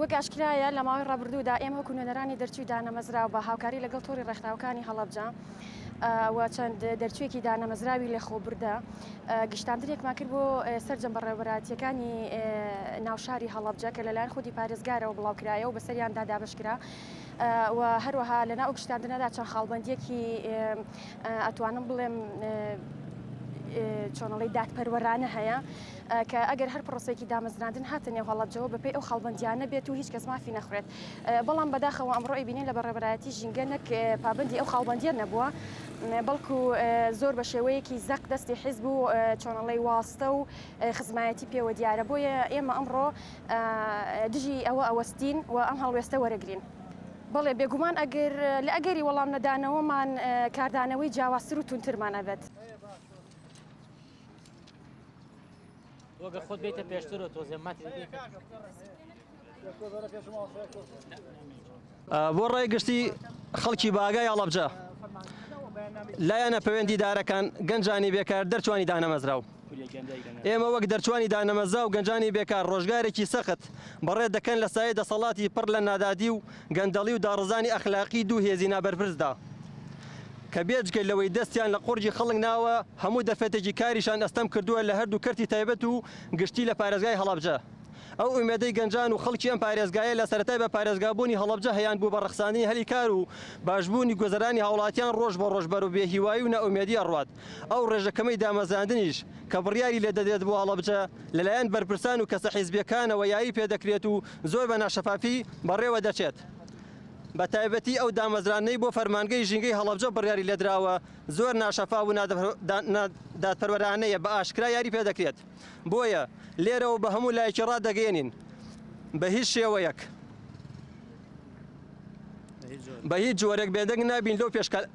وەک ئاشکرایە لە ماوەی ڕابردوودا ئێمە وەکو نوێنەرانی دەرچوی دانەمەزرا بە هاوکاری لەگەڵ تۆری ڕێکخراوەکانی هەڵەبجە و چەند دەرچوێکی دانەمەزراوی لە خۆبردا گشتاندرێکمان کرد بۆ سەررجەم بەڕێوەبەراتیەکانی ناوشاری هەڵبجە کە لەلایەن خودی پارێزگارەوە بڵاوکرایە و بەسەریاندا دابشکرا و هەروەها لەنا ئەو گشتاندنەدا چەند خاڵبندیەکی ئەتوانم بڵێم چۆنەڵی دادپەروەرانە هەیە کە ئەگەر هەر پرۆسێکی دامەزراندن هاتە نێو هەڵەجەوە بەپی ئەو خەڵبندیانە بێت و هیچ کەس مافی نەخوێت بەڵام بەداخەوە ئەمڕۆی بینین لە بەڕێبەرایەتی ژینگە نەک پابندی ئەو خاڵبندیە نەبووە بەڵکو زۆر بە شێوەیەکی زەق دەستی حیزب و چۆنەڵی واستە و خزمایەتی پێوە دیارە بۆیە ئێمە ئەمڕۆ دژی ئەوە ئەوەستین و ئەم هەڵوێستە وەرەگرین. بەڵێ بێگومان ئەگەر لە ئەگەری وەڵام نەدانەوەمان کاردانەوەی جیاوازتر و تونترمان ئەبێت. وەگە خۆت بێتە پێشترۆ تۆزێ ماتری بۆ ڕای گشتی خەڵکی باگای ئەڵەبجە لایەنە پەوێندی دارەکان گەنجانی بێکار دەرچوانی دانەمەزراو. ئێمە وەک دەرچوانی دانەمەزا و گەنجانی بێکار ڕۆژگارێکی سەخت بەڕێ دەکەن لە سایەی دەسەڵاتی پڕ لە نادادی و گەندەڵی و داڕزانی ئەخلاقی دوو هێزی نابەرپرسدا کە بێجگە لەوەی دەستیان لە قوڕگی خەڵک ناوە هەموو دەفەتێکی کاریشان ئەستەم کردووە لە هەردوو کەرتی تایبەت و گشتی لە پارێزگای هەڵەبجە ئەو ئومێدەی گەنجان و خەڵکی ئەم پارێزگایە لە سەرەتای بە پارێزگابوونی هەڵەبجە هەیانبوو بە ڕەخساندنی هەلی کار و باشبوونی گوزەرانی هاوڵاتیان ڕۆژ بە ڕۆژ بەرەو بێهیوایی و نائومێدی ئەڕوات. ئەو ڕێژە کەمەی دامەزراندنیش کە بڕیاری لێ دەدرێت بۆ هەڵەبجە، لەلایەن بەرپرسان و کەسە حیزبییەکانەوە یاری پێ دەکرێت و زۆر بە ناشەفافی بەڕێوە دەچێت. بە تایبەتی ئەو دامەزراندنەی بۆ فەرمانگەی ژینگەی هەڵەبجە بڕیاری لێ دراوە، زۆر ناشەفاف و نادادپەروەرانەیە، بە ئاشکرا یاری پێ دەکرێت. بۆیە لێرەوە بە هەموو لایەکی ڕادەگەیەنین بە هیچ شێوەیەک، بە هیچ جۆرێک بێدەنگ نابین لەو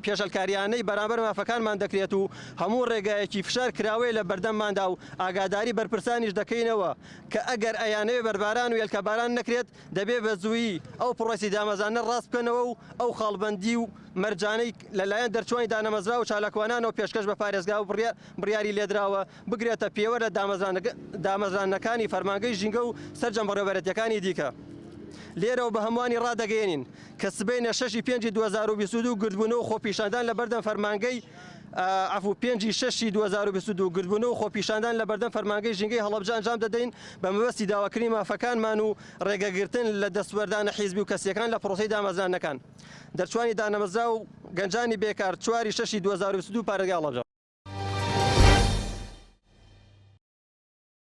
پێشەلکاریانەی بەرامبەر مافەکانمان دەکرێت و هەموو ڕێگایەکی فشار کراوەیە لە بەردەمماندا و ئاگاداری بەرپرسانیش دەکەینەوە کە ئەگەر ئەیانەوێ بەرباران و هێلکەباران نەکرێت دەبێ بە زوویی ئەو پڕۆسی دامەزانە ڕاست بکەنەوە و ئەو خاڵبەندی و مەرجانەی لەلایەن دەرچوانی دانەمەزراوە چالاکوانانەوە پێشکەش بە پارێزگا و بڕیاری لێدراوە بگرێتە پێوەر لە دامەزراندنەکانی فەرمانگەی ژینگە و سەرجەم بەڕێوەبەرێتییەکانی دیکە. لێرەوە بە هەمووانی ڕادەگەیەنین کە سبەینێ شەش ی پێنجی دوو هەزار و بیست و دوو گردبوونەوە و خۆپیشاندان لە بەردەم فەرمانگەی عەفوو پێنج ی شەش ی دوو هەزار و بیست و دوو گردبوونەوە و خۆپیشاندان لە بەردەم فەرمانگەی ژینگەی هەڵەبجە ئەنجام دەدەین بە مەبەستی داواکردنی مافەکانمان و ڕێگەگرتن لە دەستوەردانە حیزبی و کەسییەکان لە پڕۆسەی دامەزراندنەکان. دەرچوانی دانەمەزراو و گەنجانی بێکار چوار ی شەش ی دوو هەزار و بیست و دوو پارێزگای هەڵەبجە.